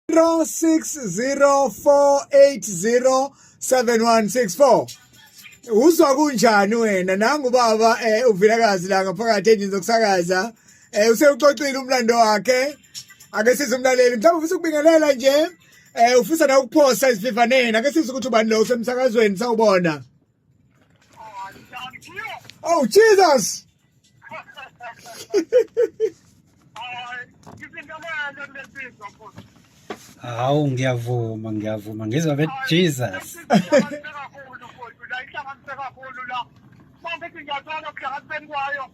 0604807164 uzwa kunjani wena nangu baba eh uvilakazi la ngaphakathi endini zokusakaza eh usewuxoxile umlando wakhe ake size umlaleli mhlawumbe ufisa ukubingelela nje eh ufisa na ukuphosa izivivaneni ake size ukuthi ubani lo usemsakazweni sawubona Oh Jesus! Hawu ngiyavuma ngiyavuma ngizwa be Jesus. Manje ngiyacela ukuhlangana kwayo.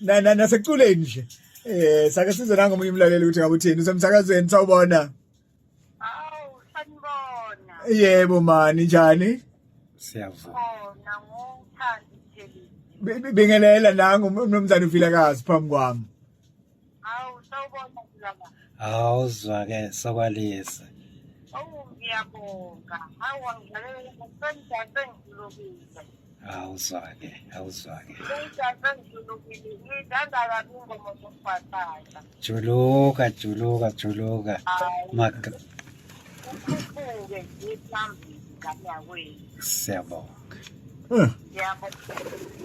na na naseculeni nje eh sake size nanga omunye umlaleli ukuthi ngabe uthini usemsakazweni sawubona awu sanibona yebo mani njani siyavuma khona ngothandi thelisi bingelela nangu umnumzane uvilakazi phambi kwami awu sawubona kulama awuzwa ke sokwalisa awu ngiyabonga awu ngidlalela ngifunda sengilobile awuzwake awuzwake juluka juluka juluka siyabonga hmm.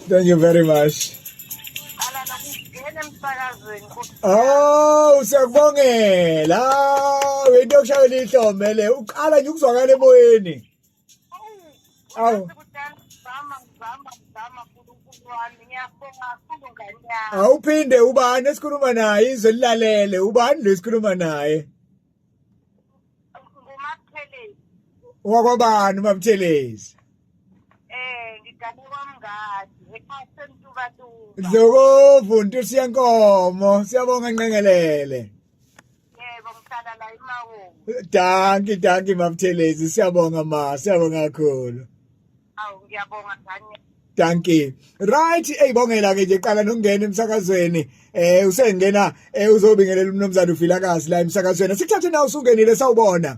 thank you very much awu siyakubongela wento yokushayela ihlomele uqala nje ukuzwakala emoyeni Awu. Awuphinde ubani esikhuluma naye izwe lilalele ubani lo esikhuluma naye wakwabani umabuthelezi eh ngigane kwamngadi ephaseni tuba tu Dlokovu ntusi yenkomo siyabonga nqengelele danki danki mabuthelezi siyabonga ma siyabonga kakhulu awu ngiyabonga dani danki right eyibongela ke nje qala nokungena emsakazweni eh usengena eh uzobingelela umnomzana uvilakazi la emsakazweni sikuthathe na usungenile sawubona